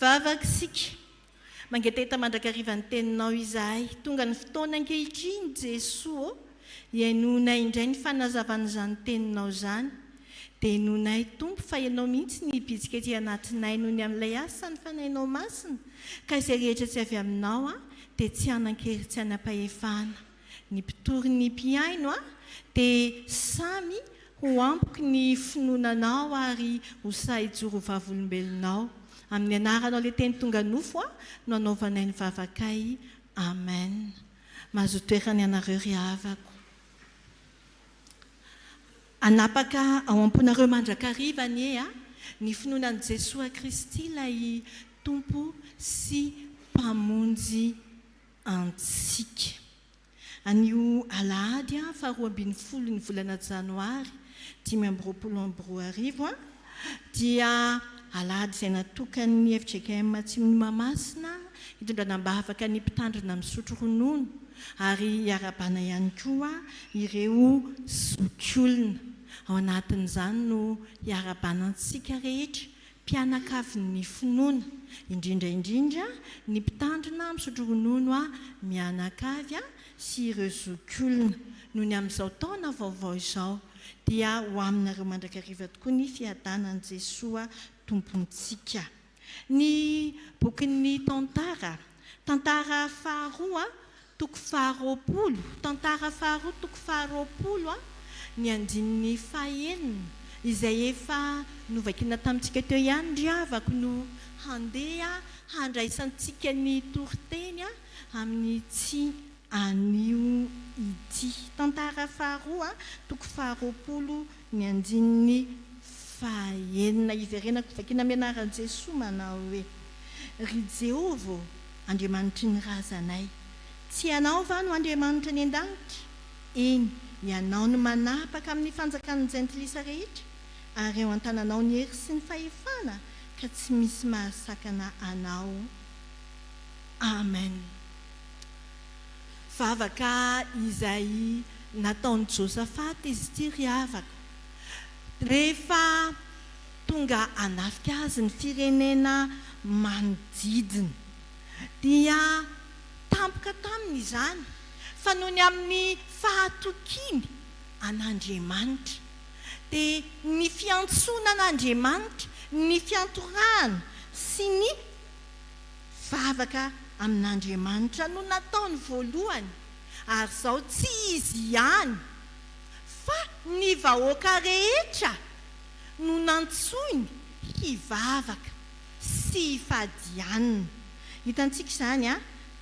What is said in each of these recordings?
Vavaka isika, mangetaheta mandrakariva ny Teninao izahay. Tonga ny fotoana ankehitriny, Jesoa ô, hihainoanay indray ny fanazavan'izany Teninao izany. Denoinay, Tompo, fa Ianao mihitsy no hibitsika ety anatinay noho ny amin'ilay asan'ny Fanahinao Masina, ka izay rehetra tsy avy Aminao dia tsy hanan-kery, tsy hanam-pahefana. Ny mpitory ny mpihaino a dia samy ho ampoky ny finoananao ary ho sahy hijoro ho vavolombelonao. Amin'ny anaranao ilay teny tonga nofo a no anaovanay ny vavakay. Amen. Mazoa toerana ianareo ry havako. Hanapaka ao am-ponareo mandrakariva anie a ny finoana an'i Jesoa Kristy ilay Tompo sy Mpamonjy antsika. Anio alahady faha roa ambin'ny folo ny volana janoary dimy amby roapolo amby roa arivo dia alahady izay natokan'ny fjkm Atsimon'i Mahamasina hitondrana am-bavaka ny mpitandrina misotro ronono ary hiarahabana ihany koa ireo zokiolona. Ao anatin'izany no hiarahabanantsika rehetra mpianakavin'ny finoana, indrindra indrindra ny mpitandrina misotro ronono mianakavy sy ireo zokiolona, nony amin'izao taona vaovao izao dia ho aminareo mandrakariva tokoa ny fiadanan'i Jesoa Tompontsika. Ny bokin'ny Tantara, tantara faharoa Toko faharoapolo, Tantara faharoa toko faharoapolo a, ny andininy fahenina, izay efa novakina tamintsika teo ihany ry havako no handeha handraisantsika ny toriteny amin'ity anio ity. Tantara faharoa toko faharoapolo. Ny andininy faha enina iverenako hovakiana Mianaran'i Jesoa manao hoe, Ry Jehovah ô, Andriamanitry ny razanay, tsy Ianao va no Andriamanitra any an-danitra? Eny, Ianao no manapaka amin'ny fanjakan'ny jentilisa rehetra, ary ao an-tananao ny hery sy ny fahefana, ka tsy misy mahasakana Anao. Amen. Vavaka izay nataon'i Josafata izy ity ry havako. Rehefa tonga hanafika azy ny firenena manodidina, dia tampoka taminy izany fa noho ny amin'ny fahatokiany an'Andriamanitra, dia ny fiantsoana an'Andriamanitra, ny fiantorahana sy ny. Vavaka amin'Andriamanitra no nataony voalohany, ary izao tsy izy ihany fa ny vahoaka rehetra no nantsoiny hivavaka sy hifadianina. Hitantsika izany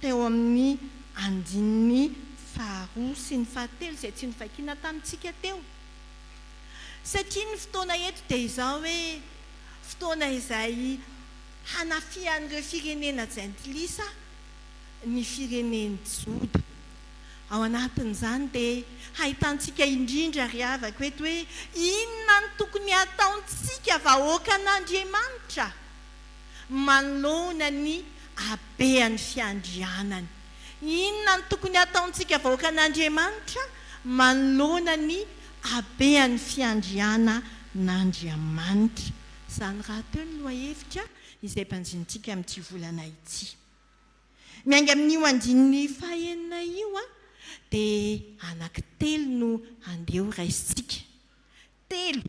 teo amin'ny andininy faharoa sy ny fahatelo izay tsy novakina tamintsika teo. Satria ny fotoana eto dia izao hoe fotoana izay Hanafihan'ireo firenena jentilisa ny firenen'i Joda. Ao anatin'izany dia hahitantsika indrindra ry havako eto hoe inona no tokony hataontsika vahoakan'Andriamanitra manoloana ny habean'ny fiandrianany. Inona no tokony hataontsika vahoakan'Andriamanitra manoloana ny habean'ny fiandrianan'Andriamanitra. Izany rahateo ny lohahevitra izay banjinintsika amin'ity volana ity. Miainga amin'io andininy fahenina io dia anankitelo no handeha ho raisintsika. Telo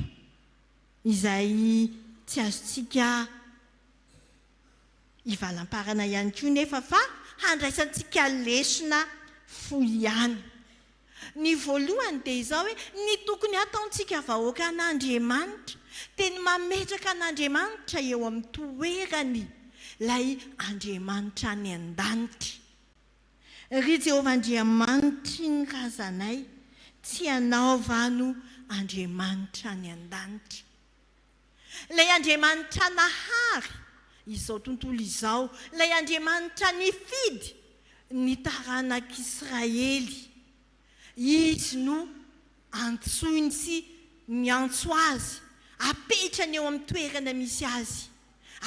izay tsy azontsika ivalamparana ihany koa nefa fa handraisantsika lesona fohy ihany. Ny voalohany dia izao hoe ny tokony hataontsika vahoaka an'Andriamanitra dia ny mametraka an'Andriamanitra eo amin'ny toerany ilay Andriamanitra any an-danitra. Ry Jehovah Andriamanitry ny razanay, tsy ianao va no Andriamanitra any an-danitra? Ilay Andriamanitra nahary izao tontolo izao, ilay Andriamanitra nifidy ny taranak'Israely, Izy no antsoiny sy miantso azy, apetrany eo amin'ny toerana misy azy.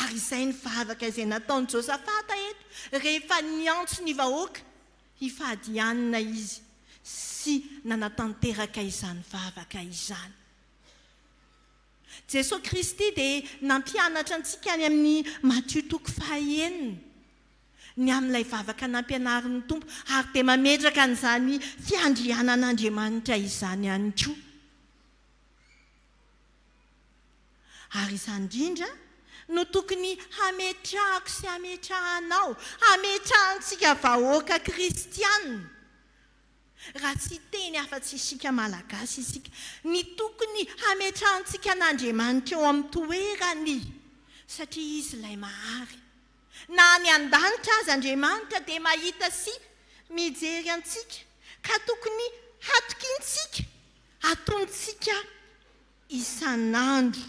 Ary izay ny vavaka izay nataon'i Josafata eto, rehefa niantso ny vahoaka hifady hanina izy sy nanatanteraka izany vavaka izany. Jesoa Kristy dia nampianatra antsika any amin'ny Matio toko fahaenina ny amin'ilay vavaka nampianarin'ny Tompo ary dia mametraka an'izany fiandrianan'Andriamanitra izany ihany koa. Ary izany indrindra no tokony hametrahako sy hametrahanao, hametrahantsika vahoaka kristiana, Raha tsy hiteny afa-tsy isika Malagasy isika, ny tokony hametrahantsika an'Andriamanitra eo amin'ny toerany, satria Izy ilay mahary. Na any an-danitra aza Andriamanitra dia mahita sy mijery antsika, ka tokony hatokiantsika, atonontsika isan'andro,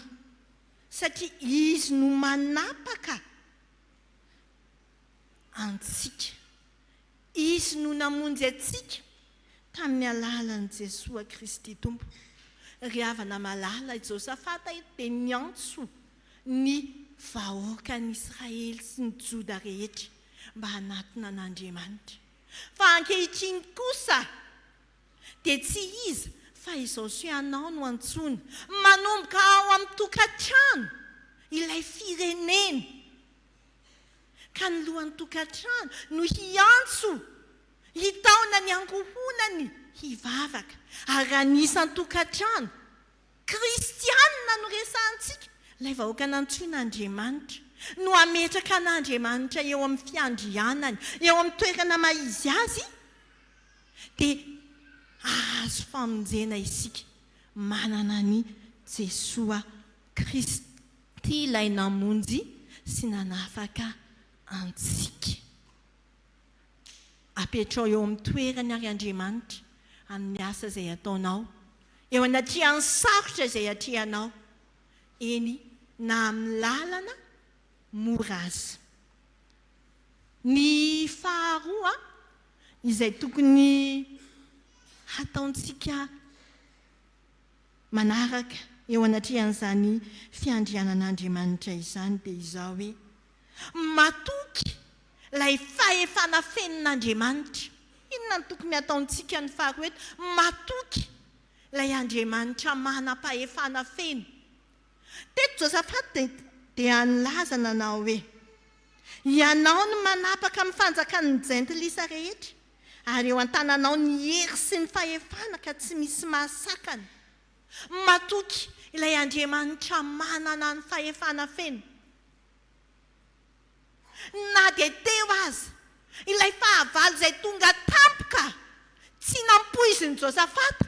satria Izy no manapaka antsika. Izy no namonjy antsika tamin'ny alalan'i Jesoa Kristy Tompo. Ry havana malala, i Josafata dia niantso ny vahoakan'Israely sy ny Joda rehetra mba hanatona an'Andriamanitra. Fa ankehitriny kosa dia tsy iza fa izao sy ianao no antsoina manomboka ao amin'ny tokantrano ilay firenena. ka ny lohan'ny tokantrano no hiantso hitaona ny ankohonany hivavaka. Ary raha ny isan-tokantrano kristianina no resahantsika, ilay vahoaka nantsoin'Andriamanitra, no hametraka an'Andriamanitra eo amin'ny fiandrianany, eo amin'ny toerana maha-izy azy, dia hahazo famonjena isika manana an'i Jesoa Kristy. Tia Ilay namonjy sy nanafaka antsika. Apetrao eo amin'ny toerany àry Andriamanitra amin'ny asa izay ataonao, eo anatrehan'ny sarotra izay atrehanao, eny na amin'ny lalana mora aza. Ny faharoa izay tokony hataontsika. Manaraka eo anatrehan'izany fiandrianan'Andriamanitra izany dia izaho hoe, Matoky ilay fahefana fenon'Andriamanitra. Inona no tokony hataontsika ny faharoa eto? Matoky ilay Andriamanitra manam-pahefana feno. Teto Josafata dia nilaza nanao hoe, Ianao no manapaka amin'ny fanjakan'ny jentilisa rehetra. Ary eo an-tananao ny hery sy ny fahefana ka tsy misy mahasakana. Matoky Ilay Andriamanitra manana ny fahefana feno. Na dia teo aza ilay fahavalo izay tonga tampoka tsy nampoizin'i Josafata,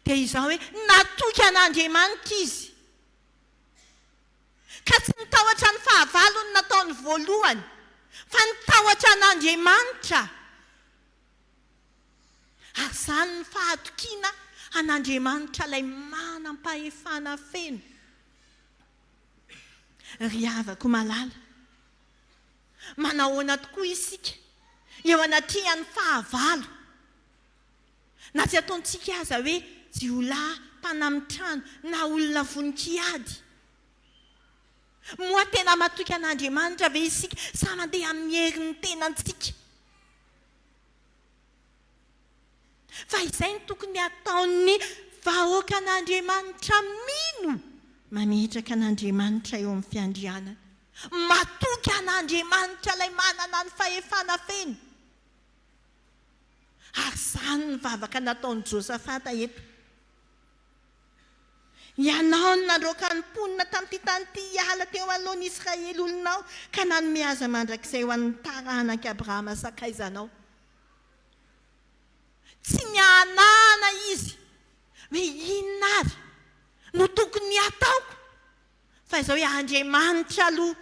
dia izao hoe, Natoky an'Andriamanitra izy. ka tsy nitahotra ny fahavalony nataony voalohany, fa nitahotra an'Andriamanitra, ary izany ny fahatokiana an'Andriamanitra ilay manam-pahefana feno. Ry havako malala, manahoana tokoa isika eo anatrehan'ny fahavalo? Na tsy ataontsika aza hoe jiolahy, mpanamin-trano, na olona vonon-kiady. Moa tena matoky an'Andriamanitra ve isika sa mandeha amin'ny herin'ny tenantsika? Fa izay no tokony hataon'ny vahoakan'Andriamanitra mino mametraka an'Andriamanitra eo amin'ny fiandrianany. Matoky an'Andriamanitra ilay manana ny fahefana feno. Ary izany ny vavaka nataon'i Josafata eto. Ianao no nandroaka ny mponina tamin'ity tany ity hiala teo anoloan'i Israely olonao, ka nanome azy mandrakizay ho an'ny taranak'i Abrahama sakaizanao. Tsy nihanahana izy hoe inona àry no tokony hataoko, fa izao hoe Andriamanitra aloha.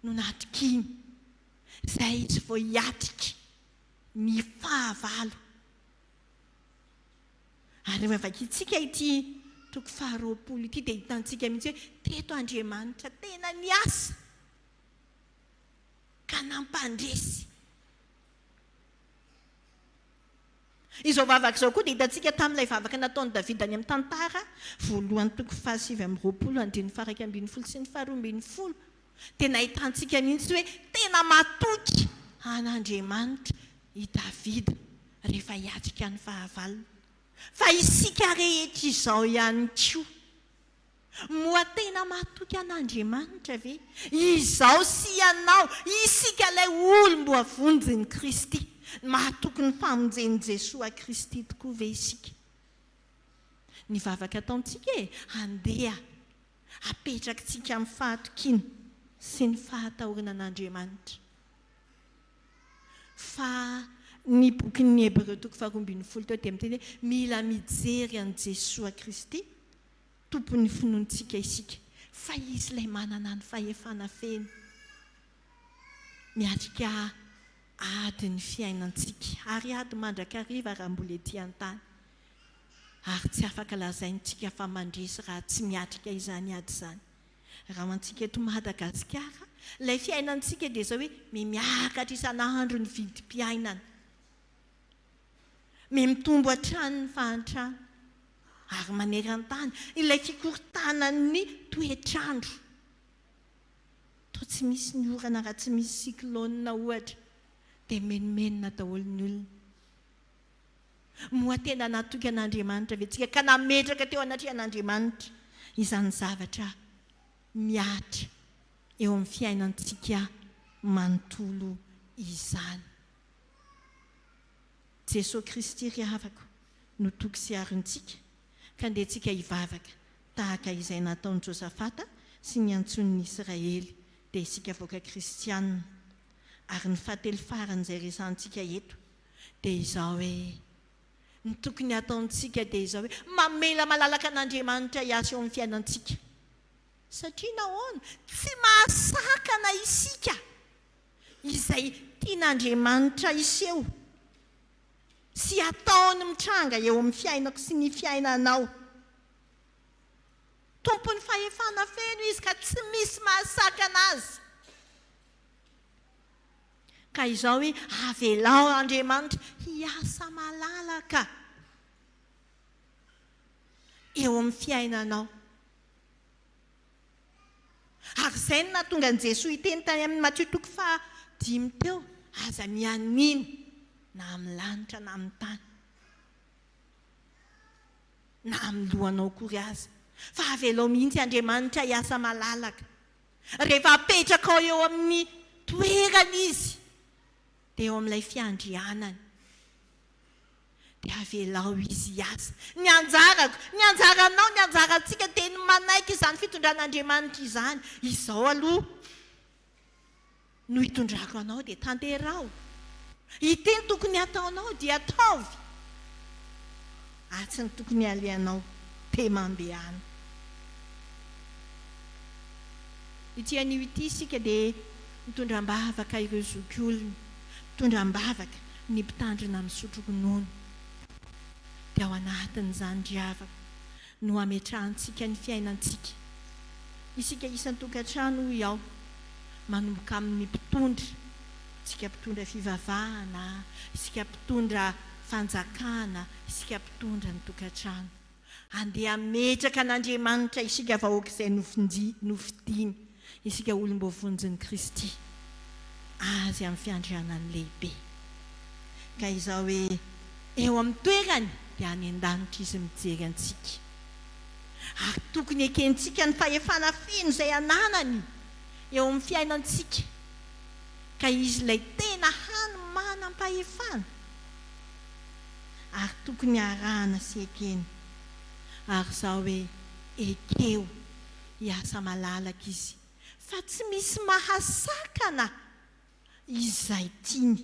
no natokiany, izay izy vao hiatrika ny fahavalo. Ary raha vakintsika ity toko faharoapolo ity dia hitantsika mihitsy hoe teto Andriamanitra tena niasa ka nampandresy. Izao vavaka izao koa dia hitantsika tamin'ilay vavaka nataon'i Davida any amin'ny tantara voalohany toko fahasivy amby roapolo andininy faharaika ambin'ny folo sy ny faharoa ambin'ny folo dia nahitantsika mihitsy hoe tena matoky an'Andriamanitra i Davida rehefa hiatrika ny fahavalony. Fa isika rehetra izao ihany koa. Moa tena matoky an'Andriamanitra ve izaho sy ianao, isika ilay olom-boavonjin'i Kristy? Mahatoky ny famonjen'i Jesoa Kristy tokoa ve isika? Ny vavaka ataontsika e, andeha apetrakitsika amin'ny fahatokiana sy ny fahatahorana an'Andriamanitra fa ny bokin'ny Hebreo toko faharoa ambin'ny folo teo dia miteny hoe mila mijery an'i Jesoa Kristy, Tompon'ny finoantsika isika, fa Izy ilay manana ny fahefana feno miatrika ady ny fiainantsika, ary ady mandrakariva raha mbola ety an-tany. Ary tsy afaka lazaintsika fa mandresy raha tsy miatrika izany ady izany. Raha ho antsika eto Madagasikara, ilay fiainantsika dia izao hoe mimiakatra isan'andro ny vidim-piainana. Miha mitombo hatrany ny fahantrana ary maneran-tany ilay fikorontanan'ny toetr'andro. Toa tsy misy ny orana raha tsy misy cyclone ohatra dia menomenona daholo ny olona. Moa tena natoky an'Andriamanitra ve tsika ka nametraka teo anatrehan'Andriamanitra izany zavatra mihatra eo amin'ny fiainantsika manontolo izany? Jesoa Kristy ry havako no toky sy arontsika ka ndehantsika hivavaka tahaka izay nataon'i Josafata sy niantsoan'ny Israely dia isika vahoaka kristianina ary ny fahatelo faran'izay resahantsika eto dia izao hoe ny tokony hataontsika dia izao hoe mamela malalaka an'Andriamanitra hiasa eo amin'ny fiainantsika satria nahoana tsy mahasakana isika izay tian'Andriamanitra hiseho sy ataony mitranga eo amin'ny fiainako sy ny fiainanao. Tompon'ny fahefana feno Izy ka tsy misy mahasakana Azy. Ka izao hoe, avelao Andriamanitra hiasa malalaka eo amin'ny fiainanao. Ary izay no nahatonga an'i Jesoa hiteny tany amin'i Matio toko faha dimy teo, Aza mianiana na amin'ny lanitra na amin'ny tany, na amin'ny lohanao akory aza, fa avelao mihitsy Andriamanitra hiasa malalaka. Rehefa apetrakao eo amin'ny toerany Izy, dia eo amin'ilay fiandrianany. Dia avelao izy hiasa. Ny anjarako, ny anjaranao, ny anjarantsika dia ny manaiky izany fitondran'Andriamanitra izany. Izao aloha no hitondrako anao dia tanteraho. Ity ny tokony hataonao dia ataovy. Atsy ny tokony halehanao dia mandehana. Ity anio ity isika dia mitondra am-bavaka ireo zokiolona. Mitondra am-bavaka. Ny mpitandrina misotro ronono dia ao anatin'izany ry havako no hametrahantsika ny fiainantsika. Isika isan-tokantrano hoy aho, manomboka amin'ny mpitondra, isika mpitondra fivavahana, isika mpitondra fanjakana, isika mpitondra ny tokantrano. Andeha hametraka an'Andriamanitra isika vahoaka izay nofidiny, isika olom-boavonjin'i Kristy, Azy amin'ny fiandrianany lehibe. Ka izao hoe eo amin'ny toerany dia any an-danitra Izy mijery antsika. Ary tokony hekentsika ny fahefana feno izay ananany eo amin'ny fiainantsika. Ka Izy ilay tena hany manam-pahefana. ary tokony arahana sy ekena ary zao hoe ekeo hiasa malalaka izy fa tsy misy mahasakana izay tiany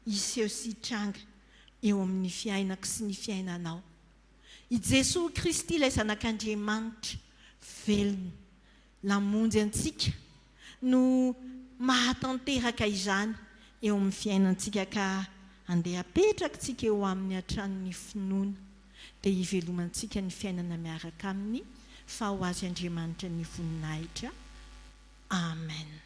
hiseho sy hitranga eo amin'ny fiainako sy ny fiainanao i Jesoa Kristy ilay zanak'Andriamanitra velona Namonjy antsika no mahatanteraka izany eo amin'ny fiainantsika ka andeha apetrakitsika eo aminy hatrany ny finoana dia hivelomantsika ny fiainana miaraka aminy fa ho azy Andriamanitra ny voninahitra Amen.